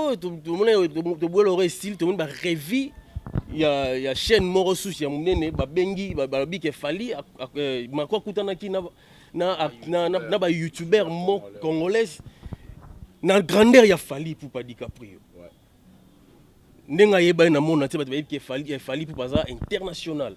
oyo tomona toboyela yango esili tomoni barevi ya, ya chaîne moko susu ya monene babengi balobi ke fali euh, mako akutanaki na, na, na, na, na bayoutubeur mo congolaise na grandeur ya fali pupa dicaprio ouais. ndenge ayebani na mona te bato bayebi ke fali, fali pupa aza international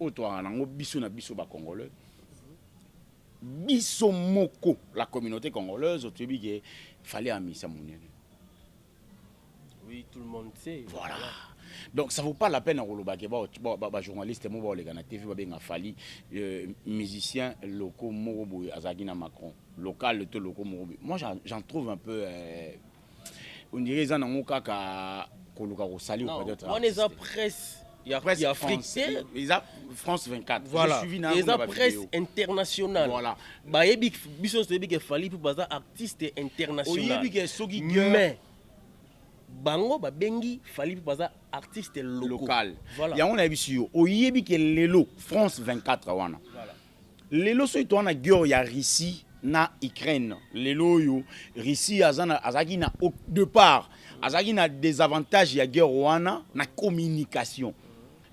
oyo toyaka nango biso na biso ba congolais biso moko la communauté congolaise toyebi ke fallait amisa monene oui tout le monde sait voilà donc ça vaut pas la peine ya koloba ke bajournaliste moko baoleka na tv babenga fali euh, musicien loko moko boye azalaki na macron local to loko moko boye moi j'en trouve un peu euh, On dirait eza nango kaka koluka kosali ou peut-être. On eza presse ya presse Afrique te eza France 24 voilà. suivi na eza presse internationale voilà. bayebi biso nyonso toyebi ke fali mpo baza artiste international mais bango babengi fali mpo baza artiste local, local. Voilà. yango nayebisi yo oyebi ke lelo France 24 wana voilà. Lelo soki toza na guerre ya Russie na Ukraine, lelo oyo Russie azalaki na au depart azalaki na desavantage ya guerre wana na communication.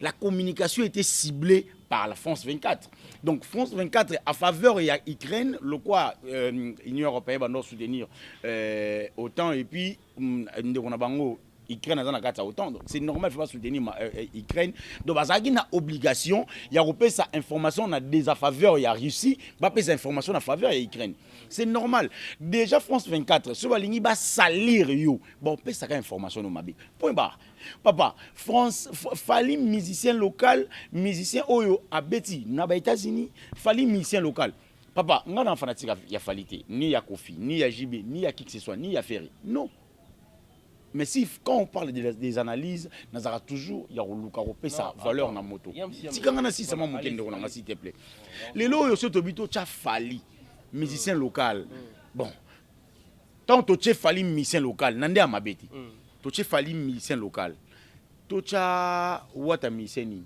La communication était ciblée par la France 24. Donc France 24 à faveur ya Ukraine, le quoi euh, Union européenne va nous soutenir euh, autant et puis Mm, ndeko na bango Ukraine aza na kati ya OTAN donc c'est normal faut pas soutenir ma, euh, euh Ukraine donc bazalaki na obligation ya kopesa information na défaveur ya Russie bapesa information na faveur ya Ukraine c'est normal déjà France 24 soki balingi basalir yo baopesaka information no mabe point barre papa france fali musicien local musicien oyo abeti na ba états-unis fali musicien local Papa, nga na fanatique ya Fally te, ni ya Kofi, ni ya JB, ni ya qui que ce soit, ni ya Ferre. Non. Mais si quand on parle des, des analyses, nazaka toujours ya koluka kopesa valeur na moto. Tika nga na sisa mwa moke ndeko na nga s'il te plaît. Lelo oyo so tobi to cha Fally, musicien local. Mm. Bon. Tant to che Fally musicien local, nande ya mabeti. Mm. To che Fally musicien local. To cha Wata musicien nini?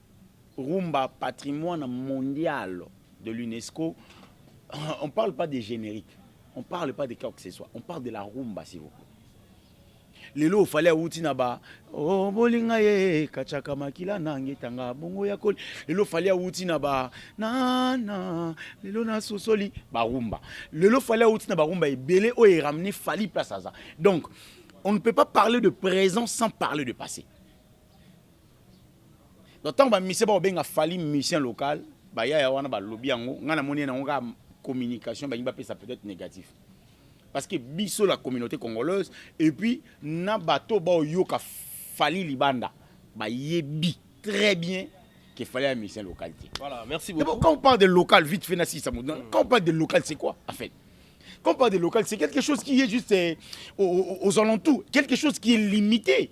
Rumba patrimoine mondial de l'UNESCO, on parle pas de generique, on parle pas de quoi que ce soit, on parle de la rumba s'il vous plaît. lelo ofali awuti na ba oh, bolinga ye kachaka makila nange tanga bongo ya koli lelo ofali awuti na ba nana lelo nasosoli barumba lelo ofali awuti na barumba ebele oyo eramene fali place aza donc on ne peut pas parler de présent sans parler de passé Donc tango ba musiciens ba benga Fally musicien local, ba yaya wana ba lobi yango, nga na moni na nga communication ba ngi ba pesa peut-être négatif. Parce que biso la communauté congolaise et puis na bato ba yoka Fally libanda ba yebi très bien que Fally a musicien local. Voilà, merci beaucoup. Bon, quand on parle de local vite fait na si ça mm. quand on parle de local c'est quoi en fait? Quand on parle de local, c'est quelque chose qui est juste euh, aux, aux, aux alentours, quelque chose qui est limité.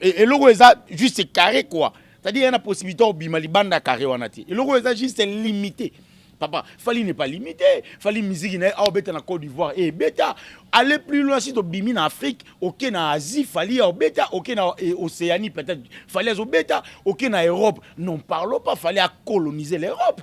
E, eloko eza juste carré quoi c'est-à-dire yana possibilité obima libanda carré wana te eloko eza juste limité papa fali n'est pas limité fali musique na ye aobeta na côte d'ivoire e beta aller plus loin si tobimi na afrique oke na asie fali aobeta oke na e, océanie peut-être fali azobeta oke na europe non parlons pas fali acoloniser l'europe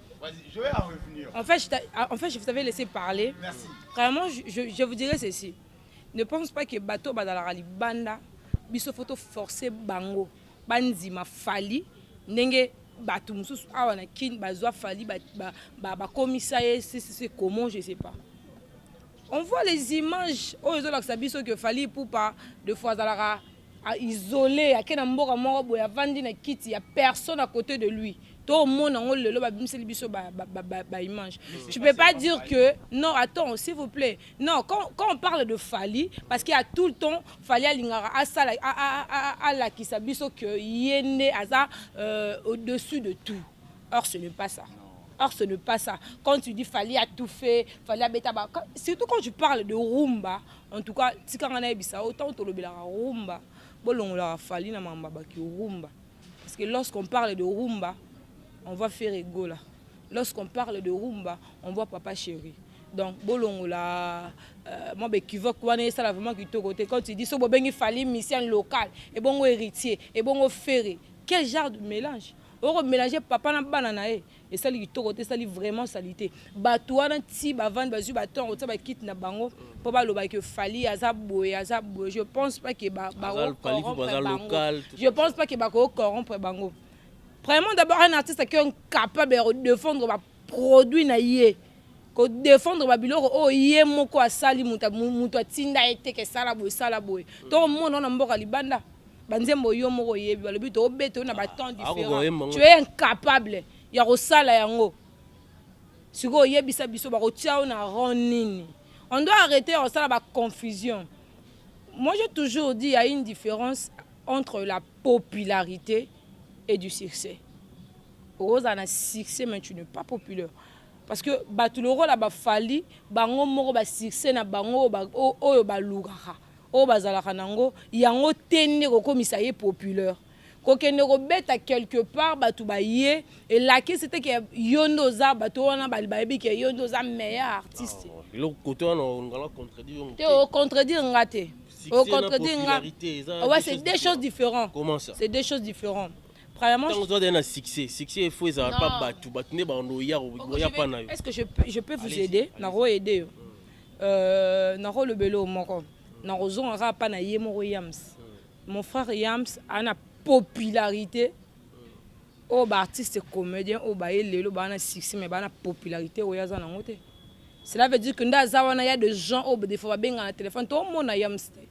En fait, en fait, je vous avais laissé parler. Merci. Vraiment, je, je, je vous dirais ceci. Ne pense pas que bateau badalaka libanda, biso photo forcé bango, banzima fali, ndenge bato mosusu awa na kin bazwa fali bakomisa ba, ba, ba ye sisise comment je sais pas on voit les images oyo ezolakisa biso que fali pupa de fois azalaka a isole ake na mboka moko boye avandi na kiti ya personne à côté de lui tomona yango lelo babimiseli biso baimage tu peux pas dire que non attends s'il vous plaît non quand, quand on parle de fali parce qu'il y a tout le temps fali alingaka asala alakisa biso que ye nde aza euh, au-dessus de tout or ce n'est pas ça Or, ce n'est pas ça. Quand tu dis fallait à tout fait, fallait à bêta, surtout quand tu parles de rumba, En tout cas, tika nga nayebisa yo, tant tolobelaka rumba, bolongolaka Fally na mamba baki rumba. Parce que lorsqu'on parle de rumba, on voit Ferre Gola. Lorsqu'on parle de rumba, on voit Papa Chéri. Donc bolongola euh, moi bekivoque wana esala vraiment kitoko te quand tu dis so bobengi Fally musicien local et bongo héritier et bongo Ferre. Quel genre de mélange? Oko mélanger papa na bana na ye. esali kitoko te esali vraiment salite bato wana ti bavandi bazwi baton kotia bakite na bango mpo baloba ke fali aza boye aza boye je pense pas ke je pense pas ke bakocorrompre bango vraiment d'abord un artiste qui est capable ya kodefendre baproduit na ye ko defendre ba biloko oyo ye moko asali mutu mutu atinda ye te ke sala boye sala boye mm. to mona na mboka libanda ba nzembo yo moko oyebi balobi to obeta na ba ah, temps différents tu es incapable ya ko sala yango sikoyo oyebisa biso ba ko tia na rond nini on doit arrêter ya kosala ba confusion moi j'ai toujours dit il y a une différence entre la popularité et du succès okozala na succès mais tu n'es pas populaire Parce que bato lokola ba Fally bango moko ba succès na bango oyo balukaka oyo bazalaka na yango yango te nde kokomisa ye populaire kokende kobeta quelque part bato baye elakisi te ke yo nde oza bato wana bayebi ke yo nde oza meilleur artiste te ocontredire nga te ocontredire nga ouais c'est deux choses différentes c'est deux choses différentes Premièrement, Tango toi na succès, succès il faut ça Non. pas batu, batu ne ba on ya Oko, on je ya vais- pas na yo. Est-ce que je peux, je peux vous Allez-y, aider allez-y. Nako aider yo. Euh, nako lobelo moko. Nako zonga kaka pa na ye moko Yams. Mon frère Yams a na popularité. Oh ba artiste comédien oh ba ye lelo ba na succès mais ba na popularité oyo aza nango te. Cela veut dire que nda aza wana ya des gens oh des fois ba benga na téléphone to mona Yams te.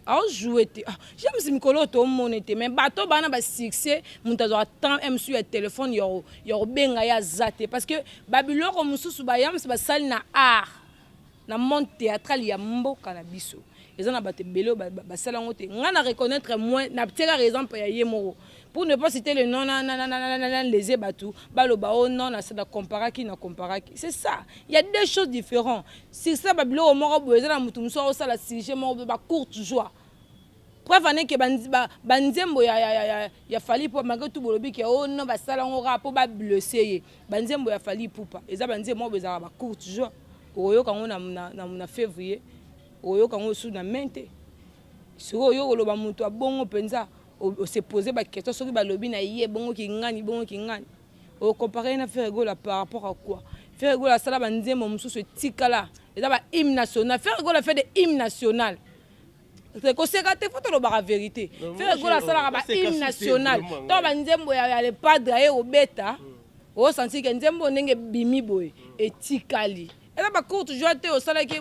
ao joue te ah, james mikolo tomone te mais bato bana basuccès moto azwaka temps eh, mosusu ya telefone ya kobenga ye aza te parce que babiloko mosusu bayams basali na art na monde théâtral ya mboka na biso eza na bato ebele basala yango te ngai na reconnaître moi natiekaka exemple ya ye moko pour ne pas citer le nom nalese bato baloba o oh non na comparaki na comparaki c'est ça il y a deux choses différentes Succès ba biloko moko boye eza na mutu mususu akosala sujet moko boye ba courte joie. Preuve en est que ba, ba, ba nzembo ya, ya, ya, ya, ya Fally Ipupa malgré tout bolobi que oh non basala yango kaka mpo ba blesser ye. Ba nzembo ya Fally Ipupa eza ba nzembo moko boye ezalaka ba courte joie. Okoyoka yango na, na, na, na février, okoyoka yango lisusu na mai te. Sikoyo oyo koloba mutu abongo mpenza, o, o se poser ba questions soki balobi na ye bongo kingani, bongo kingani. o compare ye na Ferre Gola par rapport à quoi Ferre Gola asala ba nzembo mosusu etikala eza ba hymne national Ferre Gola fait des hymnes nationales koseka te fo tolobaka verité Ferre Gola asalaka ba hymne national to ba nzembo ya, ya le padre aye obeta osanti ke nzembo ndenge ebimi boye etikali eza ba courte joie te osalaki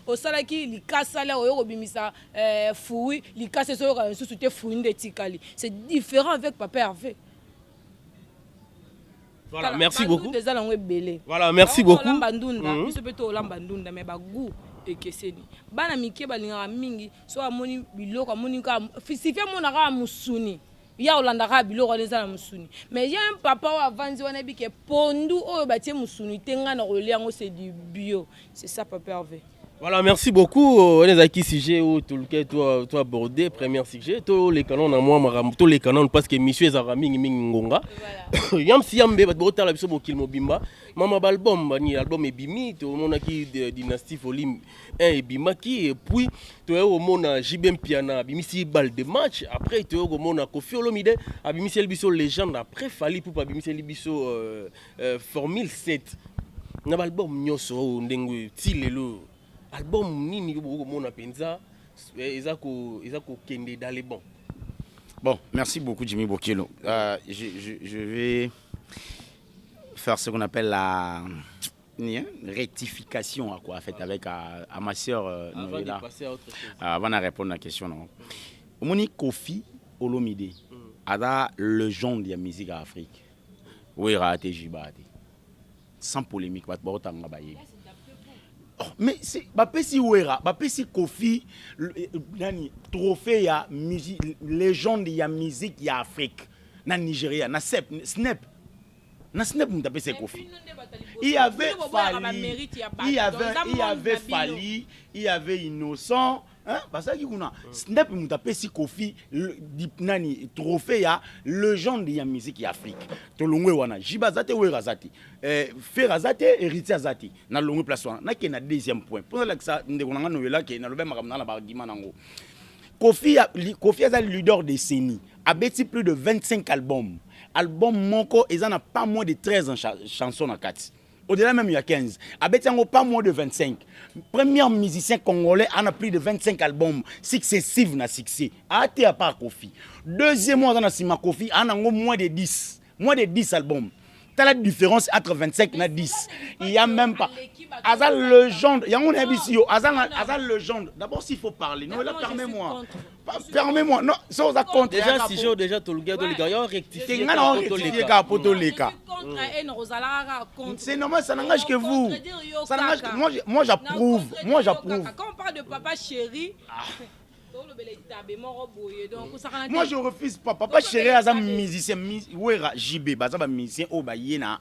osalaki likasa lya oyo kobimisa eh, fui likasa ezoyoka lisusu te fui nde etikali c'est différent avec papa herve Voilà, merci beaucoup. Eza nango ebele. Voilà, merci beaucoup. Olamba ndunda, mhm. biso pe to olamba ndunda mais ba goût ekeseni. Bana mike balingaka mingi so amoni biloko amoni ka fisifi amona ka musuni. Ya olandaka biloko wana eza na musuni. Mais ya un papa oyo avandi wana bike pondu oyo batie musuni te nga na kolia yango c'est du bio. C'est ça papa Hervé. Voilà, merci beaucoup. On est à qui sujet ou tout le cas, toi, toi abordé, premier sujet. Tous les canons, à moi, maram, tous les canons, parce que monsieur Zara Ming Ming Ngonga. Yam si yam be, bat bota la biso bokil mobimba. Mama balbum, bani album ebimi, to mona ki dynastie volume 1 ebima ki, et puis, to yo mona JBM Piana, bimisi bal de match. Après, to yo mona Kofi Olomide, abimisi el biso légende. Après, Fali Poupa, abimisi el biso. Euh, Euh, formule 7 na baalbum nyonso oyo ndenge oyo ti lelo album nini yo bokoki komona mpenza eh, eza kokende dans le bon bon merci beaucoup jimmy bokelo euh, je, je, je vais faire ce qu'on appelle la hein, rectification à quoi fait avec à, à ma sœur euh, avant Noëlla. de passer à autre chose euh, avant de répondre à la question non omoni kofi olomide mm. aza legende ya musique ya afrique Wera te jiba te. Sans polemique bato baotanga bayebi. Oh, mais c'est bapesi Wera, bapesi Kofi eh, nani trophée ya musique légende ya musique ya Afrique na Nigeria na Snap Snap na Snap mutu apesi Kofi. Il y avait Fally, il y avait il y avait Fally, il y avait Innocent Hein? bazalaki kuna snap moto apesi kofi nani trophée ya legende ya musique ya afrique tolongwe wana jiba aza te wera aza te eh, fer aza te héritier aza te nalongwe place wana nakende na deuxième point mpo nalakisa ndeko na ngai noyela ke nalobi makambo na na baargument nango kofi, kofi aza leader décennie abeti plus de 25 albums album moko eza na pas moins de 13 chansons na kati au-delà même ya 15 abeti yango pas moins de 25 premier musicien congolais ana plus de 25 albums successive na succès ate apa kofi deuxième aza na nsima kofi ana yango moins de 10 moins de 10 albums tala différence entre 25 na 10 il y a même pas aza legende yango nayebisi yo aza aza legende d'abord s'il faut parler non la permet moi permets-moi non ça oza contre déjà si je déjà to lugya to lika yo rectifier nga na rectifier ka po to leka c'est normal ça n'engage que vous ça n'engage que moi moi j'approuve moi j'approuve quand on parle de papa chéri ah. moi je refuse pas papa chéri aza musicien wera jb baza ba musicien oyo baye na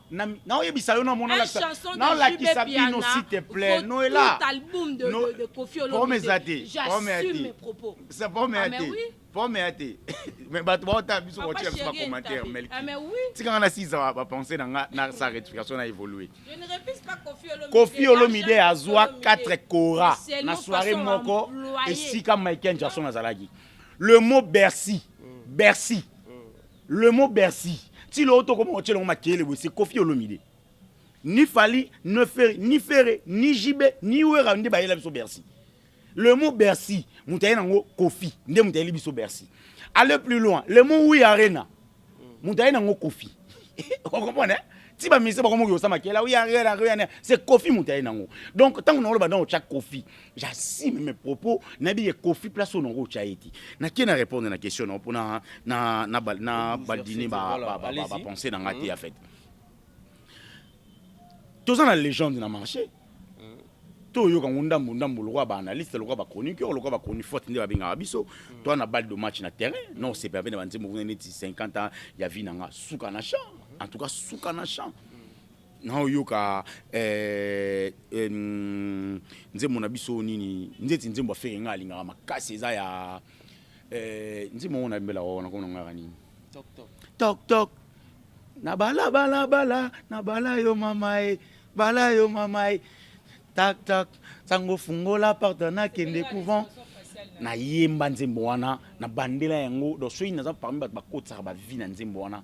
na naoyebisa yo namona nalakisa bino s'il te plaît noela pome eza te pome ya te sa pome ya te pome ya te mais bato baotala biso kotika biso bacommentaire melki tikanga nasiza bapense na nga na sa rectification na évolue kofi olomide azwa 4 cora na soirée moko esika michael jackson azalaki le mot bercy bercy Le mot Bercy, ti lo toko mo tshelo makele bo se Koffi Olomide. Ni Fally, ne Ferre, ni Ferre, ni JB, ni Werra nde bayela biso Bercy. Le mot Bercy, moto aye nango Koffi, nde moto ayeli biso Bercy. Aller plus loin, le mot Oui Arena, moto aye nango Koffi. Vous comprenez? Hein? ti bamise bakomoki kosala makela oui Arena, Arena, c'est Koffi moto aye nango. Donc tango naoloba nao tshia Koffi, j'assume mes propos nayebi ye kofi place oyo nango otya ye ti nake na répondre na question nango mpona na, na, na, na badine bapense na nga te ya hmm. fete toza na légende na marché hmm. toyoka ngo ndambu ndambu lokola baanalyste lokola bachroniqueur lokola bachronifote nde babengaka biso hmm. toa na balle de match na terrain non sepe ape na banzembo kuna neti 50 ans ya vie na nga suka na champ en tout cas suka na champ nao yoka eh, eh, mm, nzembo na biso nini nzeti nzembo ya fere ngai alingaka makasi eza ya eh, nzembo yango nayembela oo nakomona ngaka nini tok tok na bala bala bala na bala yo mama e bala yo mama e tak tak sango fungola parta nakende couvent nayemba nzembo wana na bandela yango donc soki naza parmi bato bakotisaka bavi na nzembo wana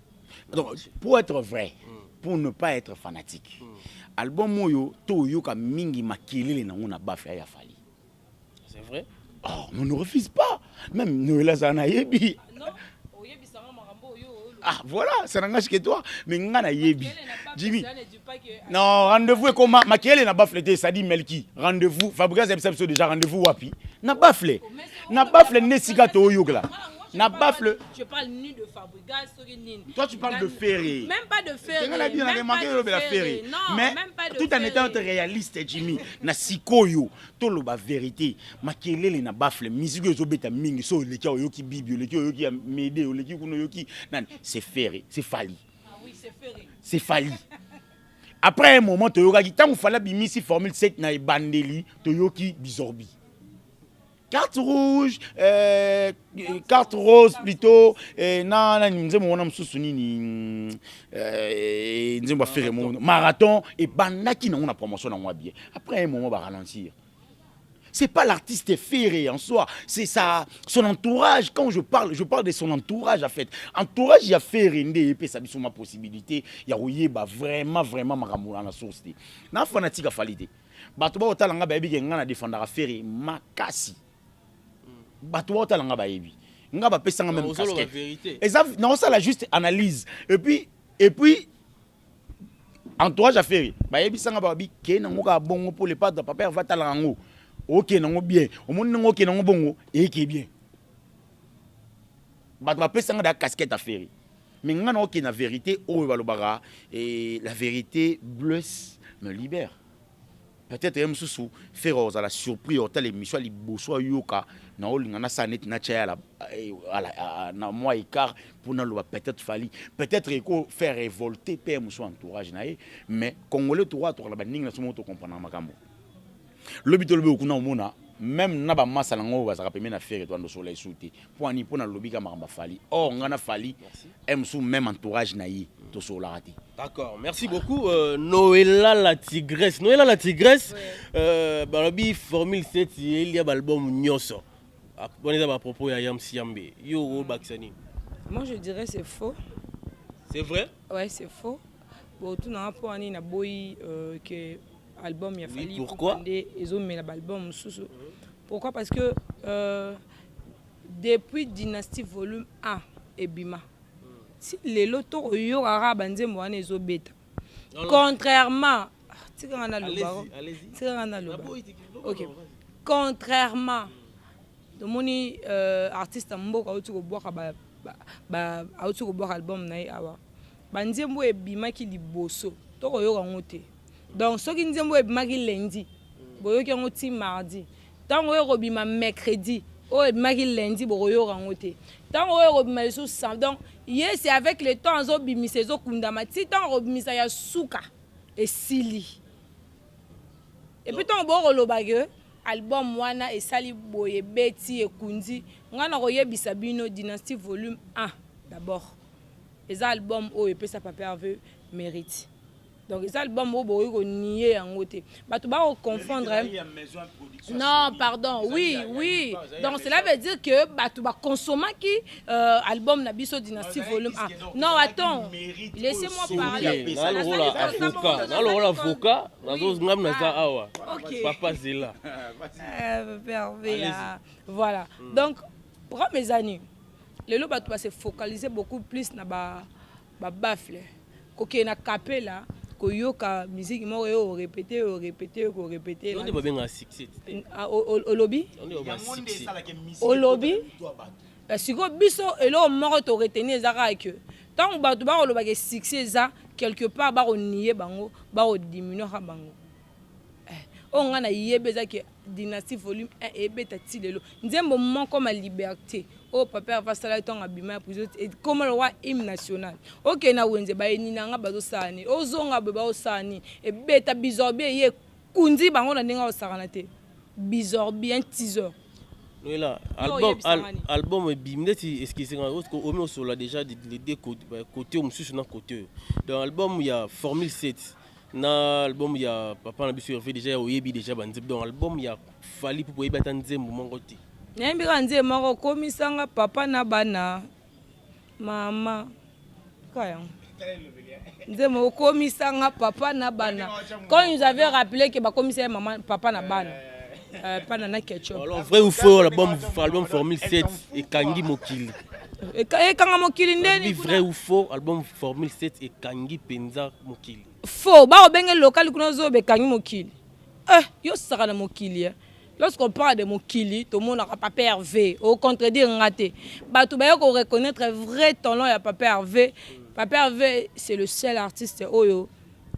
donc pour être vrai pour ne pas être fanatique mm. album oyo toyoka mingi makelele nango na bafea ya fali c'est vrai oh, on ne refuse pas même noel azala nayebi ah voilà ça n'engage que toi mais nga nayebi jimmy non rendez-vous ekoma makelele na bafle te esadi melki rendez-vous fabrigas yebisa biso déjà rendez-vous wapi na bafle na bafle nde esika toyokela na bafle gaz soki nini toi tu parles de ferre même pas de ferre nga la bien na manqué de la ferre mais tout en étant réaliste Jimmy na sikoyo to loba vérité makelele na baffle musique ozo beta mingi so leki oyoki bibi leki oyoki ya mede leki kuno yoki nani c'est ferre c'est fali ah oui c'est ferre c'est fali après un moment toyokaki ntango fala bimisi formule 7 na ebandeli toyoki bizorbi carte rouge euh, carte rose plutôt euh, na na nzembo wana mosusu nini euh, nzembo afere mono marathon ebandaki nango na promotion na mwa bien après un moment ba ralentir c'est pas l'artiste ferré en soi c'est ça son entourage quand je parle je parle de son entourage en fait entourage ya ferré nde epesa biso ma possibilité ya koyeba vraiment vraiment makambo wana source te na fanatique afali te Bato bao tala nga bayebi ke nga na defendaka Ferre makasi. Bato bao tala nga bayebi. Nga ba pesa nga même casquette. Eza na osala juste analyse. Et puis et puis entourage ya Ferre bayebi sanga ba bi ke na ngoka bongo pour le pas de papa va tala ngo. OK na ngo bien. Omoni ngo ke na ngo bongo et ke bien. Bato ba pesa nga da casquette ya ferre mais nga nao kende na verite oyo ba lobaka eh, la verite blesse me libère peut-être ye mosusu ferre ozala surpris otala émission ya liboso ayoka na olinga na sala neti na tya ya eh, ah, na mwa écart mpo naloba peut-être fali peut-être eko faire révolter mpe ye mosusu entourage na ye mais congolais tokoka tokala baningi na somo tokomprendre makambo Lobi to lobi okuna omona même na ba masa na ngo bazaka pembe na ferre to ando sola isu te point ni pona lobi ka makamba fali or ngana fali aime sous même entourage na ye mm. to sola te D'accord, merci beaucoup. Euh, Noëlla la tigresse. Noëlla la tigresse, euh, balobi formule 7, il y a l'album Nyoso. Ah, bon, les à propos, il y a Yam Siambe. Yo, Baksani. Moi, je dirais c'est faux. C'est vrai Ouais, c'est faux. Bon, tout n'a pas ni na boyi euh, que album ya Fally. Oui, pourquoi? Ils ont mis l'album sous. Pourquoi? Parce que euh, depuis Dynastie Volume 1 et Bima, si les lotos yo ara banze moi ne zo beta. Contrairement, ah, tika ngana le baro. Tika ngana le baro. Ok. Contrairement, le moni euh, artiste mboka auti ko boka ba ba auti ko boka album na ye awa. Ba nzembo oyo ebimaki liboso to ko yoka ngo te. Donc soki nzembo oyo ebimaki lundi, bo yoki yango ti mardi. Tango oyo eko bima mercredi, oyo ebimaki lundi boko yoka ngo te. Tango oyo eko bima lisusu sam. Donc ye c'est avec le temps azo bimisa ezo kundama ti tango ako bimisa ya suka esili. Et puis tango boko loba que album wana esali boye ebeti ekundi, nga nako yebisa bino Dynastie volume un d'abord. Eza album oyo epesa Papa Herve merite. Donc eza album oyo bokoki konier yango te. Bato ba confondre Non, pardon. Oui, oui. Donc cela veut dire que bato ba consommaki euh, album na biso Dynastie volume 1. Non, attends. Laissez-moi parler. Na lokola avocat, na lokola avocat, nazo ngam na za awa. Papa Zela. Euh, Papa Herve. Voilà. Hmm. Donc, prends mes années. Lelo bato ba se focaliser beaucoup plus na ba ba baffle kokende na capella koyoka miziki moko yo orepete yo orepete yo korepete olobi olobi sikoyo biso eloko moko toreteni eza kaka ke ntango bato bakolobaka succès eza quelque part bakoniye bango bakodiminwaka bango Eh, oyo ngai nayebi eza ke dynastie volume 1 ebeta ti lelo nzembo moko ma liberté oyo papa herve asalaki ntango abima ya prison ekoma lokola hymne national okei na wenze bayini na nga bazosala nini ozonga boye baosala nini ebeta bizorbi eye ekundi bango na ndenge aosakana te bizorbi un tiseur Noela, album, al, album ebimi neti eskisi nga omi osola déjà les deux côté mosusu na côté donc album ya formule 7 na album ya papa na biso herve déjà ya oyebi déjà banzembo donc album ya fali mpo oyebi ata nzembo moko te nayembi kaka nzembo moko okomisanga papa na bana mama ka yango nzembo okomisanga papa na bana quand nous avait rappelé ke bakomisa ye mama papa na bana Euh, pana na ketchup alors vrai ou faux album album formule 7 ekangi mokili ekanga mokili ndeni vrai ou faux album formule 7 ekangi mpenza mokili faux bakobenge lokali kuna ozoyoba ekangi mokili eh, yosaka na mokili eh. lorsqu'on parle de mokili tomonaka papa herve ocontredire nga te bato baye koreconnaitre vrai talent ya papa herve papa herve c'est le seul artiste oyo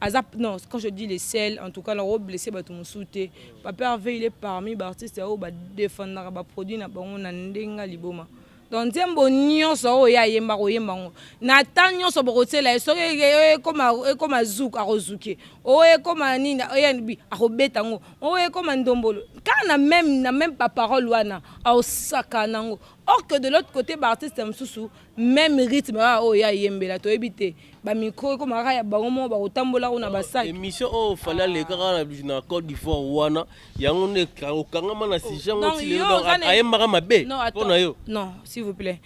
aza non quand je dis les sel en tout cas nako blesse bato mosusu te papa herve il est parmi baartiste oyo badefendaka baproduit na bango na ndenge liboma donc nzembo nyonso oyo ye ayemba koyemba yango na temps nyonso bokotiela ye soki ekoma zouk akozuke oyo ekoma nini anb akobeta yango oyo ekoma ndombolo kaka na meme na meme baparole wana aosaka na yango or que de l'autre côté baartiste mosusu meme rythme oyo ye ayembela toyebi te ba micro ekoma kaka ya bango moko bakotambola kuna basaki émission oyo oh, fali alekaka ah. na cote d'ivoire wana yango nde okangama na sujet yango oh, ti ayembaka mabe mpo na yo non s'il vous plaît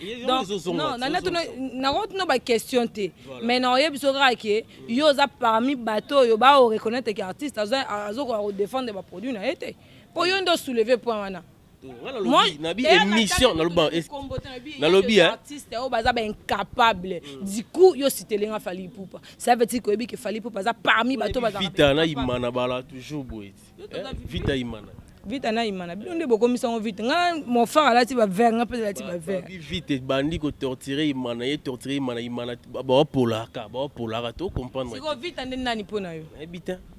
nakotuna baquestion te mais naoyebi so kaka ke yo oza parmi bato oyo baoreconnaitre ke artiste azokoka kodefendre baproduit na ye te mpo yo nde osouleve point wana nalobi émission nalobi artiste oyo baza baincapable du coup yo sitele nga fali ipupa ça veut dire que oyebi ke fali ipupa aza parmi bato bazavita na imana bala toujours boye vita imana vita na imana bino nde bokomisa yango vite nga mofar alati bavere nga mpe alati bavere vite ebandi kotortire imana ye tortire imana imana bawapolaka bawapolaka to comprendre vita nde nani mpo na yo nayebi te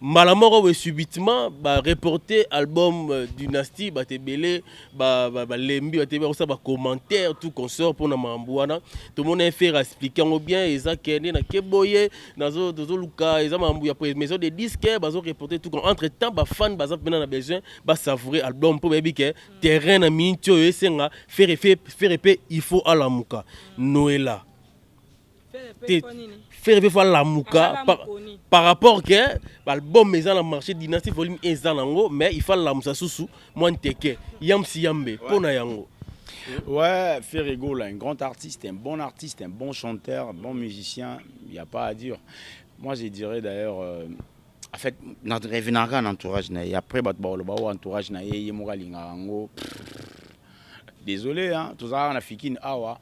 mbala moko boye subitement ba reporter album euh, dynastie bato ebele balembi ba, ba bato ebele bakosala bacommentaire tout consort mpona makambo wana tomona efere explike yango bien eza kende na keboye tozoluka eza makambo ya maison de disque bazo reporter tout entre temps bafane baza mpena na besoin basavoure album mpo bayebi ke terrain na miniti oyo esenga fere fere mpe il faut alamuka noela te ferre pe fo alamuka par rapport ke baalbum eza na marché dynastie volume eza nango mais il faut alamusa susu mwa nteke yamsi yambe mpo na yango Ouais, Ferre Gola, un grand artiste, un bon artiste, un bon chanteur, un bon musicien, il n'y a pas à dire. Moi, je dirais d'ailleurs, euh, en fait na revenaka kaka na entourage na ye après bato bakoloba oyo oh, entourage na ye ye moko alingaka yango désolé hein, tozalaka kaka na fikine awa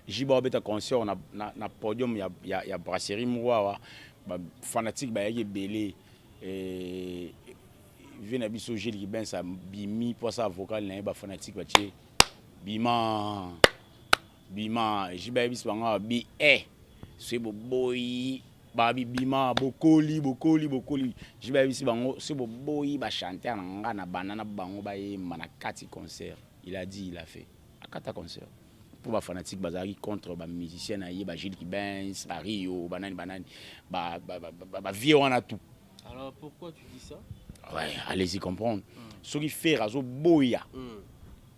jiba obeta concert na, na, na podium ya, ya, ya brasserie moko awa bafanatique bayaki ebele eh, vie na biso gile kibens abimi mpo asala vocal na ye bafanatique batie bima Bima JB ayebisi bango awa bi e soki boboyi babi bima bokoli bokoli bokoli JB ayebisi bango soki boboyi ba chanteur na nga na banda na bango bayemba na kati concert il a dit il a fait akata concert mpo ba fanatique bazalaki contre ba musicien na ye ba Gilles Kibens ba Rio banani banani ba, ba, ba, ba, ba vieux wana tout alors pourquoi tu dis ça ouais allez-y comprendre mm. soki Ferre azoboya mm.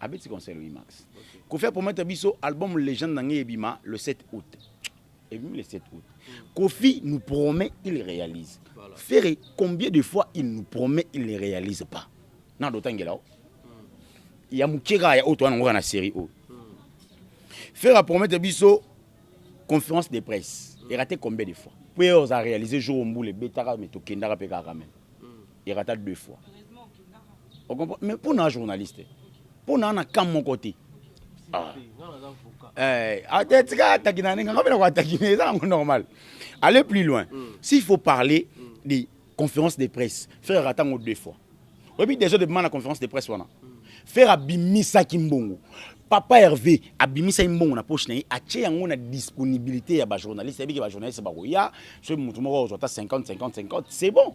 abeti concert oui max kofi apromete biso album legende na ngai ebima le 7 août ebimi le 7 août kofi nous promet il réalise voilà. ferre combien de fois il nous promet il ne réalise pas na dotangela o hmm. ya moke kaka ya oyo towana yango kaka na série oyo hmm. ferre apromete biso conférence de presse hmm. erate combien de fois mpo ye oza réalise jour ombula ebetaka me tokendaka mpe kaka meme erata deux fois mais mpo na journaliste mpo na na kam moko te ah. eh, ah, tika ataki na ndenge nga mpe nakoataki ne eza nango normal aller plus loin mm. s'il faut parler mm. des conférences de presse faire erata yango deux fois oyebi déjà debima na conférence de presse wana mm. faire abimisaki mbongo papa herve abimisaki mbongo na poche na ye atye yango na disponibilité ya bajournaliste ayebiki bajournaliste bakoya soki motu moko ozwa ata 50 50 50 c'est bon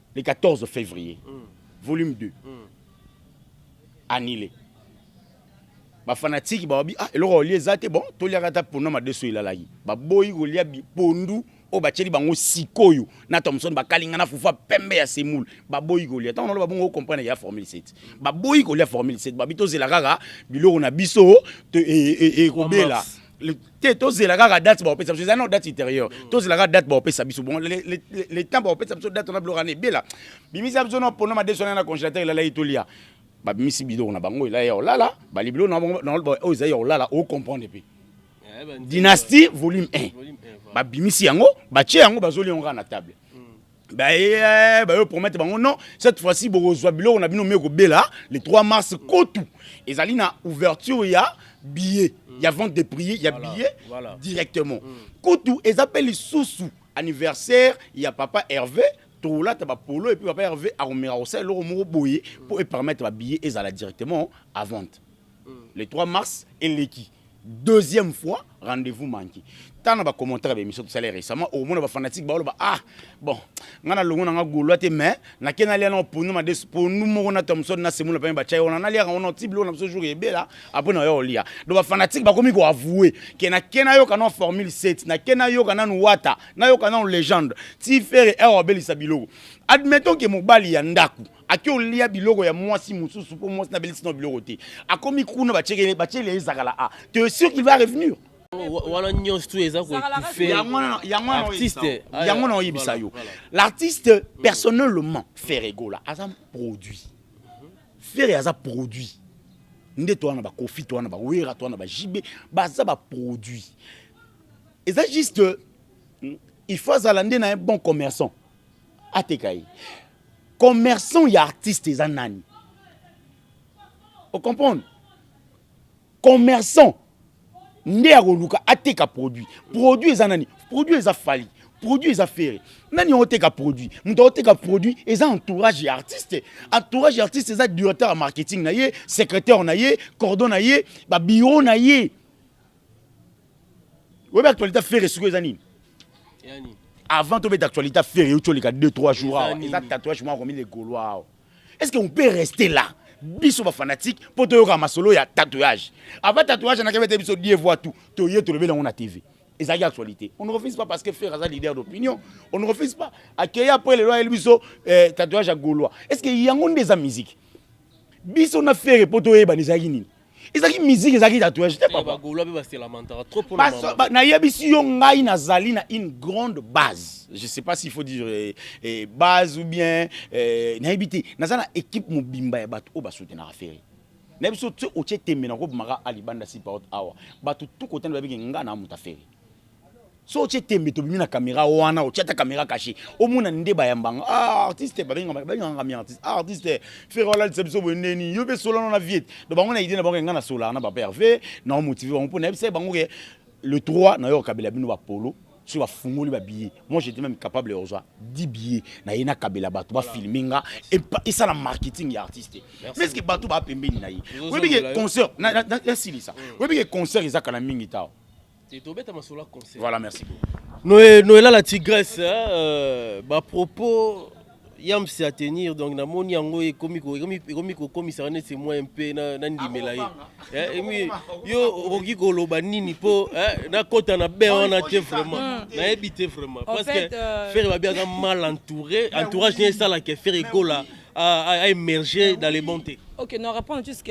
le 14 fevrier mm. volume 2 mm. annulé bafanatiki bawabi ah, eloko olia eza te bon toliaka ata pondu na madeso elalaki baboyi kolia pondu oyo batyeli bango sikoyo na thomson bakalinga na fufa pembe ya semoule baboyi kolia ntango naloba bongo okomprendre ya formule 7 baboyi kolia formule 7 babi tozela kaka biloko na biso ekobela e, e, e, te tozela kaka date baopesa biso eza nao date ultérieure mm. tozela kaka date baopesa biso bon le temps baopesa biso date wana biloko wana ebela bimisa biso nao pono madeso wana na congélateur elalaki tolia babimisi biloko na bango elai ya olala bali biloko oyo ezali ya olala ocomprendre mpe eh, dynastie volume 1 babimisi yango batie yango bazoli yango kaka na table baye bayo promettre bango non cette fois-ci bokozwa biloko na bino me ekobela le 3 mars kotu ezali na ouverture ya billet mm. ya vente de prix ya voilà, billet voilà. directement mm. kutu eza mpe lisusu anniversaire ya papa herve tolata bapolo epuis papa herve akomeka kosala eloko moko boye mpo mm. epermettre babillet ezala directement à vente le 3 mars eleki deuxième fois rendez-vous manqué tana ba commentaire ba émission tout ça les récemment au moins ba fanatique ba ba ah bon ngana longo nanga golois te mais na kena lia na ponu ma des ponu moko na Thomson na semula pa ba chai on a lia on a tible on a ce jour et bela après na yo lia donc ba fanatique ba komi ko avouer que na kena yo kana formule 7 na kena yo kana wata na yo kana légende ti faire erreur belisa biloko admettons que mobali ya ndaku ake olia biloko ya mwasi mosusu mpo mwasi na belisi na biloko te akomi kuna batiekele batiele ezakala a te es sûr qu'il va revenir wana nyonso tu eza koetuffeartiste yango na oyebisa yo l'artiste personnellement ferre egola aza produit ferre aza produit nde to wana bakofi to wana bawera to wana bajibe baza baproduit eza juste il faut azala nde na ye bon commerçant ateka ye commerçant ya artiste eza nani ocomprendre commerçant nde ya koluka ateka produit produit eza nani produit eza fali produit eza fere nani oteka produit moto aoteka produit eza entourage ya artiste entourage ya artiste eza directeur ya marketing na ye secrétaire na ye cordon na ye babiro na ye Oyebi actualité ya Ferre sikoyo eza nini? Yani. Avant tobeta actualité ya Ferre yo toleka 2 3 jours awa eza tatouage moko akomi le Gaulois awa. Est-ce que on peut rester là? biso bafanatique mpo toyoka masolo ya tatouage avant tatouage anakebe te biso die voi tout toye tolobeli yango na tv ezalaki actualité on ne refuse pas parce que frère aza leader d'opinion on ne refuse pas akei après lelo ayeli biso eh, tatouage ya gaulois est ce que yango nde eza musique biso na ferre mpo toyebana ezalaki nini ezalaki musique ezalaki tatouage te papa nayebisi yo ngai nazali na une grande base je sais pas s'il faut dire eh, eh, base ou bien eh, nayebi te naza na équipe mobimba ya bato oyo basoutenaka ferre nayebi so otie tembe na kobimaka alibanda sipaot awa bato tukotani babiki ngai na moto aferi so otye tembe tobimi na kamera wana otye ata kamera kashe omona nde bayambanga ah, artiste babenganga mi artiste ah, artiste fere walalisa biso boye ndeni yo mpe solana na viete do bango na idee na bango enga na solaka na papa herve na omotive bango mpo nayebisaki bango ke le 3 na yo okabela bino bapolo soki bafungoli babillet moi j'étais même capable ya kozwa 10 billet naye nakabela bato bafilme nga esala marketing ya artiste mais ceque bato baa pembeni na ye oyebi ke concert nasilisa oyebi ke concert ezaka na mingi tao Voilà, merci beaucoup. Noé, Noé là, la tigresse, hein, euh, bah, propos, yam c'est à tenir, donc na moni yango et komi ko komi komi ko komi ça c'est moi un peu na na ndimela ye. Eh, et mi yo okoki ko loba nini po eh, na kota na be on a te vraiment. Hmm. Na ebite vraiment parce que euh, faire va bien mal entouré, entourage n'est ça là que faire écola à, à émerger dans les bontés. Ok, nous répondons juste,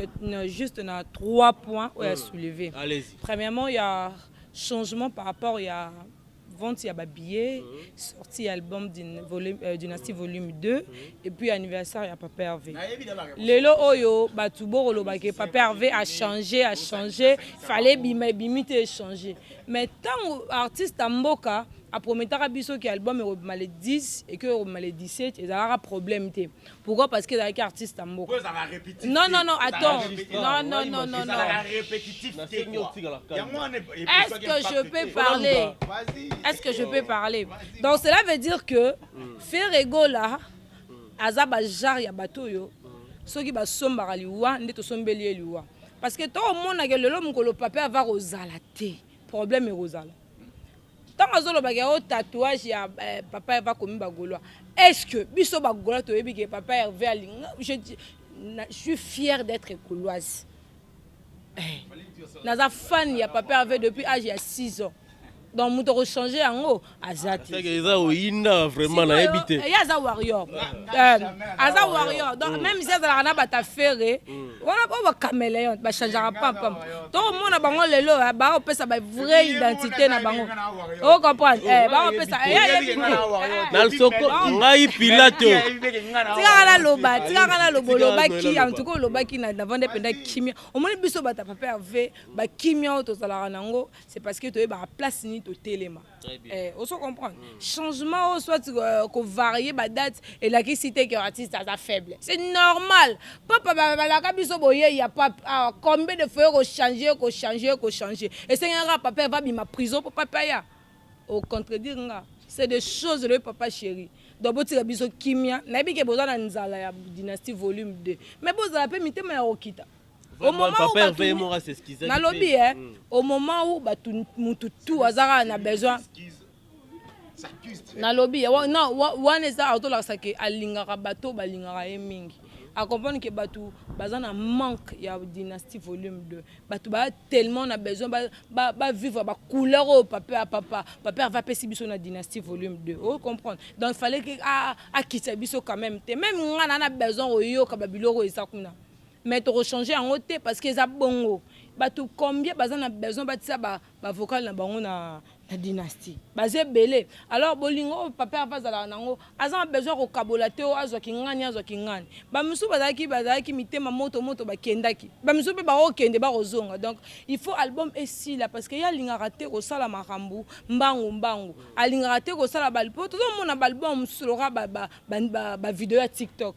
juste à trois points où elle a soulevé. Premièrement, il y a changement par rapport ya vente ya ba billets, mm -hmm. sortie album d'une volume euh, dynastie volume 2 mm -hmm. et puis anniversaire ya Papa Hervé. Lelo oyo batu boko loba ke Papa Hervé a changé, a changé, fallait bima bimite e changer. Mais tant artiste à mboka a prometaka biso que album est le 10 et que le 17 ezalaka problème te. Pourquoi Parce que ezalaki artiste ya mboka. Non non non, attends. Non non non non non. Est-ce que je peux parler Est-ce que je peux parler Donc cela veut dire que mm. Ferre Gola aza ba genre ya bato oyo soki basombaka liwa nde tosombeli ye liwa parce que tokomonaka lelo mokolo pape ava kozala te problème ekozala ntango azolobaka ya o tatouage ya eh, papa herve akomi bagolois est ce que biso bagolois toyebi ke papa herve alinga je, na, je suis fière d'être goloise eh, naza fan ya papa herve depuis age ya 6 ans donc moto akochange yango aza te eza oyinda vraiment nayebi te ye aza warrior aza warrior donc même si azalaka na batafere wana po ba cameleon ba changeaka pampam tokomona bango lelo eh, baopesa ba vrai identité na bango o comprendre eh, baopesa eh, na lisoko ngai pilato tikaka naloba tikaka naloba olobaki antuka olobaki na navande mpenza kimia omoni biso bato ya papa herve bakimia oyo tozalaka nango c'est parce que toyebaka place nini totelema Eh, ozo comprendre mm. changement oyo soit euh, kovarie badate elakisi te ke artiste aza faible c'est normal papa balaka biso boyei ya pape awa ah, combien de fois kochange kochange kochange esengaka papa eva bima prison mpo papa ya ocontredire nga c'est des choses le papa chéri donc botika biso kimia nayebi ke boza na nzala ya dynastie volume 2 mais bozala mpe mitema ya kokita au moment où batu nalobi eh mm. au moment où batu mutu tout azaka na besoin nalobi na wana eza atolakisa ke alingaka bato balingaka ye mingi acomprendre ke bato baza na manque ya dynastie volume 2 bato baa tellement na besoin bavivre bacouleur oyo pape ya papa pape ava apesi biso na dynastie volume 2 oyo comprendre donc fallait ke akitisa biso quand même te meme ngai na na besoin koyoka babiloko eza kuna mais toko changer yango te parce que eza bongo bato combien baza na besoin batia ba, ba vocal na bango na, na dynastie baza ebele alors bolingo oyo papa herve azalaka nango aza na besoin ya kokabola te oyo azwa kingani azwa kingani bamisusu bazalaki bazalaki mitema moto moto bakendaki bamisusu mpe bakokende bakozonga donc il faut album esila parce que ye alingaka te kosala makambo mbangu mbangu alingaka te kosala po tozomona baalbum mosusu loka bavideo ba, ba, ba ya tiktok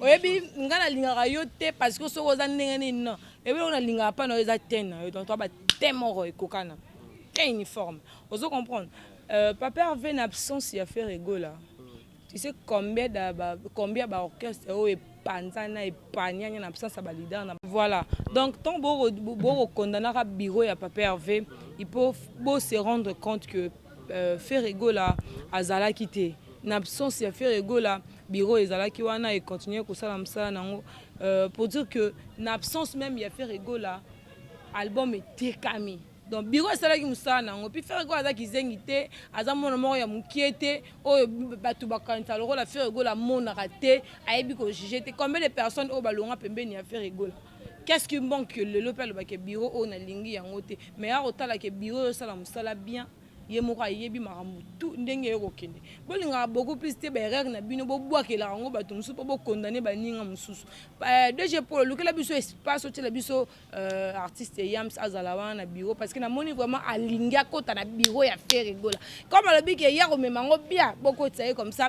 oyebi nga nalingaka yo te parce que soki oza ndenge nini non ebi oyo nalingaka mpa na yo eza te na yo donc toa bate moko ekokana te uniforme ozo comprendre euh, papa herve na absence ya faire egola tu sais combien da ba, combien ba orchestre oyo epanzana epanianya na absence ya ba leader na voilà donc tant boko condamnaka bureau ya papa herve il faut bo se rendre compte que Ferre Gola azalaki te na absence ya Ferre Gola bureau ezalaki wana et continuer kosala mosala nango euh, pour dire que na absence même ya Ferre Gola album etekami donc bureau esalaki mosala nango puis Ferre Gola aza kizengi te aza mwana moko ya mokie te oyo bato bakanisa lokola Ferre Gola amonaka te ayebi ko juger te combien de personnes oyo balonga pembeni ya Ferre Gola Qu'est-ce qui manque que lelo pe alobaka bureau oyo nalingi yango te mais ya kotala ke bureau oyo osala mosala bien ye moko ayebi makambo tout ndenge yo kokende bolingaka beaucoup plus te baerreur na bino bobwakelaka yango bato mosusu mpo bokondane baninga mosusu euh, dg polo lukela biso espace otyela biso euh, artiste yams azala wana na bureau parce que namoni vraiment alingi akota na bureau ya ferre gola comme alobi ke ye akomema yango bien bokotisa ye comme ça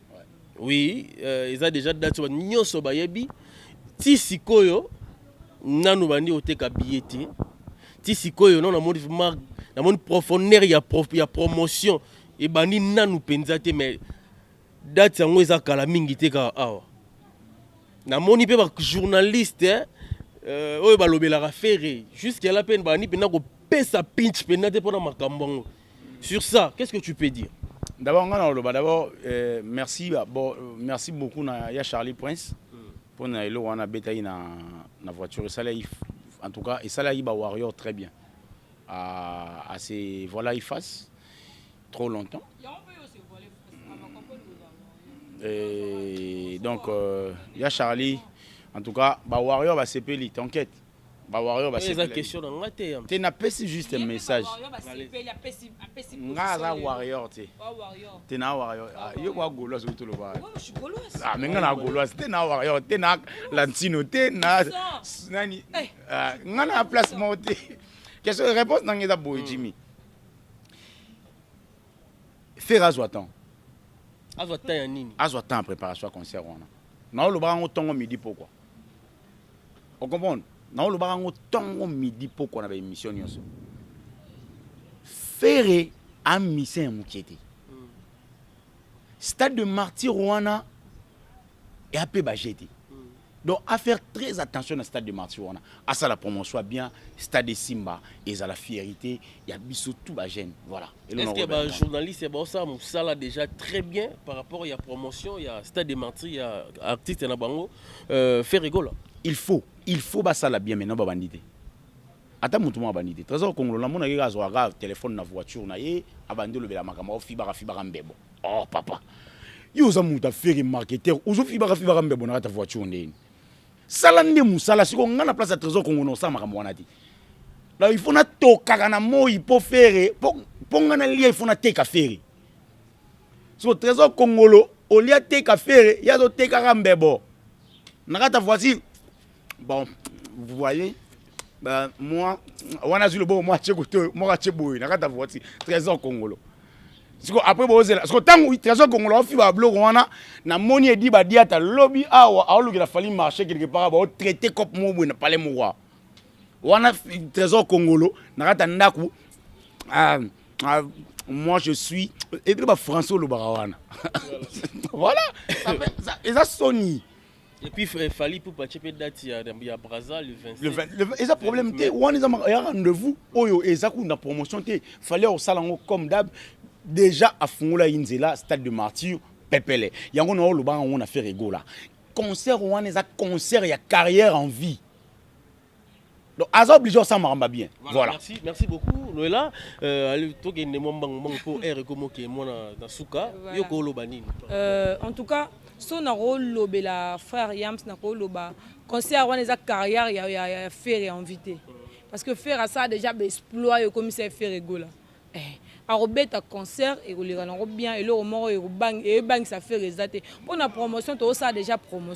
Oui, euh, eza déjà date ba nyoso bayebi ti sikoyo nanu bandi oteka billet te ti sikoyo nano namoni vraiment namoni profondeur ya, pro, ya promotion ebandi nanu mpenza te mais date yango eza kala mingi te kaka awa namoni mpe bajournaliste eh, euh, oyo balobelaka fere jusque la mpe bandi mpenza kopesa pinch mpenza te mpo na makambo yango Sur ça, qu'est-ce que tu peux dire? D'abord, nga na oloba d'abord euh, merci ba, bo, euh, merci beaucoup na ya Charlie Prince mpo na eloko wana abetaki na, na voiture esalaki en tout cas esalaki ba warrior très bien à, à se voilà y face trop longtemps Et donc euh, ya Charlie en tout cas ba warrior basepeli t'inquiète Ba warrior ba sepeli. Eza question na nga te yam. Te na pesi juste message. Nga aza warrior te. Te na warrior. Ah, yo kwa golo azo to loba. Ah, menga na golo as te na warrior te na lantino te na nani. Eh. Ah, nga na place mo te. Question réponse na nga eza boy hmm. Jimmy. Faire azwa temps. Azwa temps ya nini? Azwa temps préparation concert wana. Na oloba ngo tongo midi pourquoi? Okomprendre? Nao lobaka ngo tongo midi pokwa na ba emission nyonso. Ferre a musicien ya mukie te. Stade de martyr wana ya pe ba jete. Donc à faire très attention na stade de martyr wana. À ça la promotion bien, stade de Simba et la fierté, il y a biso tout ba jeune. Voilà. Est-ce que ba journaliste ba ça musala déjà très bien par rapport à la promotion, il y a stade de martyr, il y a artiste na bango. euh, ferre gola il faut il faut basala bien maintenant babandi te ata motu moko abandi te trésor kongolo namonaki kaka azwaka telefone na voiture na ye abandi olobela makambo afibaka fibaka mbebo oh papa yo oza moto afere marketeur ozofibaka fibaka mbebo na kati ya voiture ndeni sala nde mosala siko ngai na place ya trésor kongolo osala makambo wana te donc il faut natokaka na moi mpo fere mpo ngai nalia il faut nateka fere so trésor kongolo olie ateka fere ye azotekaka mbebo na kata voici bon vous voyez ben, moi wana azwi loboko mwa atie kote oyo moko atie boye na kata voici trésor kongolo siko après bozela siko ntango trésor kongolo aofiba babiloko wana namoni edi badiata lobi awa aolukela fali marché quelque part baotraite cope moko boye na palais moko wana trésor kongolo na kati ya ndako ah, ah, moi je suis ebile bafrançais olobaka wana voilà eza soni Et puis Fally Poupa Tchepe date ya, ya Brazza le 27. Le 20, le, eza problème te wana eza ya rendez-vous oyo eza kuna promotion te fallait osala yango comme d'hab déjà afungola ye nzela stade de martyr pepele yango na olobaka yango na ferre egola concert wana eza concert ya carrière en vie Donc, aza obligé osala makambo ya bien voilà, voilà. Merci, merci beaucoup loela euh, tokende mwa mbangu mbangu mpo aire ekomoke mwana na suka yo kooloba nini euh, en tout cas so nakolobela frère yams nakoloba concert wana eza carrière ya, ya, ya fere ya invité parce que fere asala déjà baexploit ekomisa ye fere egola eh. akobeta concert ekoleka nango bien eloko moko ebangisa fere eza te mpo na promotion tokosala déjà promotion